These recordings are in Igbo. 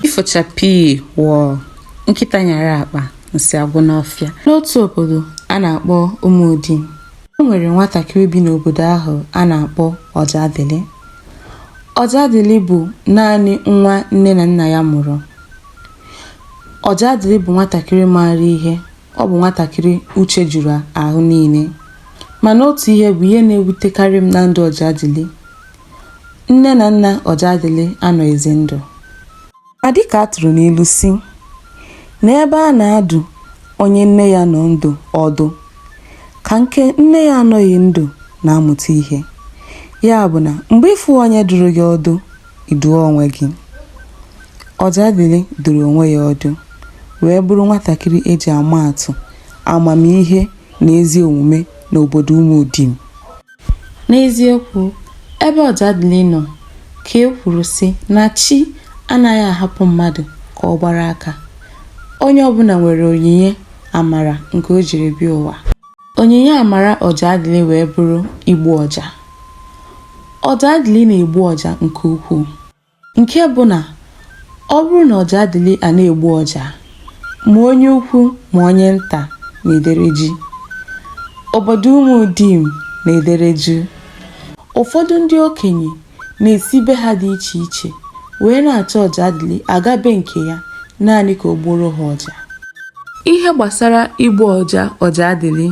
ifo chakpii wọọ nkịta nyara akpa nsị agwụ n'ọfịa n'otu obodo a na-akpọ umudim o nwere nwatakịrị bi n'obodo ahụ a na-akpọ ọjadịlị ọjadịlị bụ naanị nwa nne na nna ya mụrụ Ọjaadịlị bụ nwatakịrị maara ihe, ọ bụ nwatakịrị uche juru ahụ niile. Mana otu ihe bụ ihe na-ewutekarị m na ndụ Ọjaadịlị. Nne na nna Ọjaadịlị anọghịzi ndụ. Ma dịka a tụrụ n'ilu si, na ebe a na-adụ onye nne ya nọ ndụ ọdụ, ka nke nne ya anọghị ndụ na-amụta ihe. Ya bụ na mgbe ị fụghị onye dụrụ gị ọdụ, ị dụọ onwe gị. Ọjadịlị dụrụ onwe ya ọdụ wee bụrụ nwatakịrị e ji ama atụ amamihe na ezi omume n'obodo Umudim. N'eziokwu, ebe Ọjadịlị nọ ka e kwuru sị na chi anaghị ahapụ mmadụ ka ọ gbara aka. Onye ọbụla nwere onyinye amara nke o jiri bịa ụwa. Onyinye amara Ọjaadịlị wee bụrụ igbu ọja. Ọjaadịlị na-egbu ọja nke ukwuu nke bụ na ọ bụrụ na Ọjaadịlị a na-egbu ọja, ma onye ukwu ma onye nta na-edere jii. Obodo Umudim na-edere juu. Ụfọdụ ndị okenye na-esi be ha dị iche iche wee na-achọ Ọjaadịlị aga be nke ya naanị ka o gbuoro ha ọja. Ihe gbasara igbu ọja Ọjaadịlị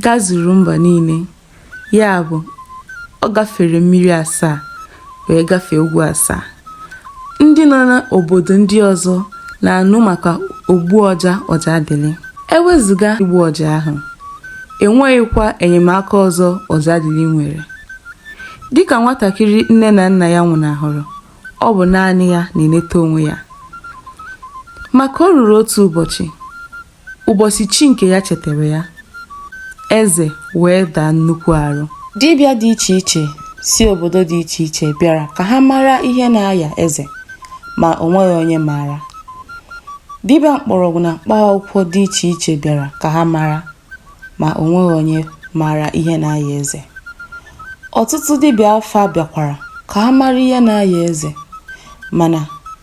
gazuru mba niile, ya bụ, ọ gafere mmiri asaa wee gafee ugwu asaa. Ndị nọ n'obodo ndị ọzọ na-anụ maka ogbu ọja Ọjaadịlị. E wezụga igbu ọja ahụ, e nweghịkwa enyemaka ọzọ Ọjaadịlị nwere. dịka nwatakịrị nne na nna ya nwụnahụrụ ọ bụ naanị ya na-eneta onwe ya ma ka o ruru otu ụbọchị ụbọchị chi nke ya chetara ya eze wee daa nnukwu arụ dibịa dị iche iche si obodo dị iche iche bịara ka ha mara ihe na-aya eze ma o nweghị onye maara dibịa mkpọrọgwụ na mkpa akwụkwọ dị iche iche bịara ka ha mara ma o nweghị onye maara ihe na-aya eze. Ọtụtụ dibịa afa bịakwara ka ha mara ihe na-aya eze mana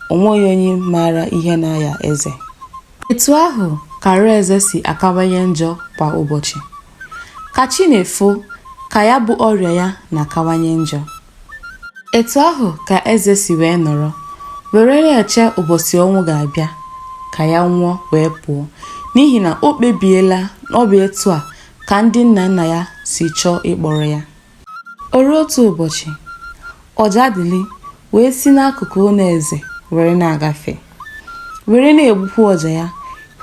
o nweghị onye maara ihe na-aya eze. Etu ahụ ka arụ eze si akawanye njọ kwa ụbọchị. Ka chi na-efo ka ya bụ ọrịa ya na-akawanye njọ. Etu ahụ ka eze si wee nọrọ, were na-eche ụbọchị ọnwụ ga-abịa ka ya nwụọ wee pụọ, n'ihi na o kpebiela na ọ bụ etu a ka ndị nna nna ya si chọọ ịkpọrọ ya. O ruo otu ụbọchị, Ọjadịlị wee si n'akụkụ ụlọ eze were na-agafe, were na-egbukwa ọja ya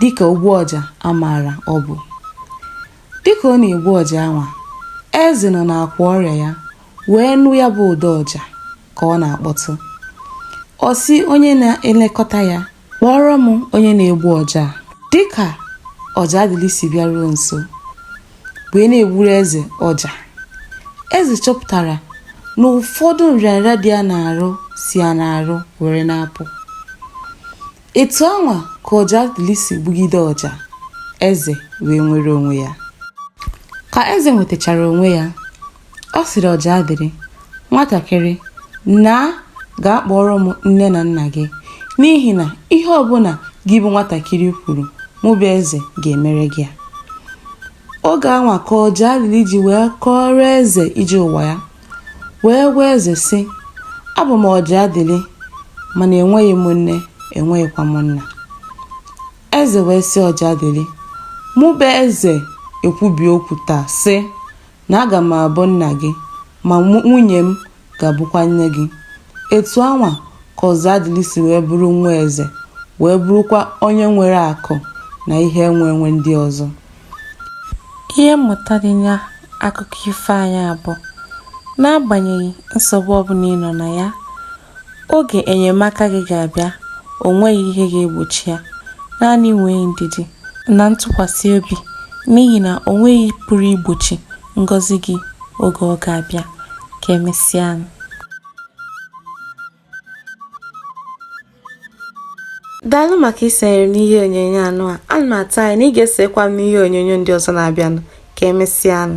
dịka ogbu ọja a maara ọ bụ. Dịka ọ na-egbu ọja anwa, eze nọ n'akwa ọrịa ya wee nụ ya bụ ụda ọja ka ọ na-akpọtụ. Ọ sị onye na-elekọta ya, Kpọọrọ m onye na-egbu ọja a. Dịka Ọjadịlị si bịaruo nso wee na-egburu eze ọja, eze chọpụtara na ụfọdụ nrịanrịa dị ya n'arụ si ya n'arụ were na-apụ. Etu anwa ka Ọjadịlị si gbugide ọja, eze wee nwere onwe ya. Ka eze nwetachara onwe ya, ọ sịrị Ọjadịlị, Nwatakịrị, naa gaa kpọọrọ m nne na nna gị, n'ihi na ihe ọbụla gị bụ nwatakịrị kwuru, mụ bụ eze ga-emere gị ya. Oge anwa ka Ọjadịlị ji wee kọọrọ eze ije ụwa ya. Wee gwa eze sị, Abụ m Ọjadịlị, mana enweghị m nne, enweghịkwa m nna. Eze wee sị Ọjadịlị, Mụ bụ eze ekwubie okwu taa sị na aga m abụ nna gị, ma mụ- nwunye m ga-abụkwa nne gị. Etu anwa ka Ọjadịlị si wee bụrụ nwa eze, wee bụrụkwa onye nwere akụ na ihe enwe enwe ndị ọzọ. Ihe mmụta dị na akụkọ ifo anyị a bụ n'agbanyeghị nsogbu ọbụla ị nọ na ya, oge enyemaka gị ga-abịa, o nweghị ihe ga-egbochi ya, naanị nwee ndidi na ntụkwasị obi n'ihi na o nweghị pụrụ igbochi ngọzi gị oge ọ ga-abịa. Ka emesịa. daalụ maka isonyere m n'ihe onyonyo anwa ana m atụ anya na ị ga-esokwa m n'ihe onyonyo ndị ọzọ na-abịanụ ka emesịanụ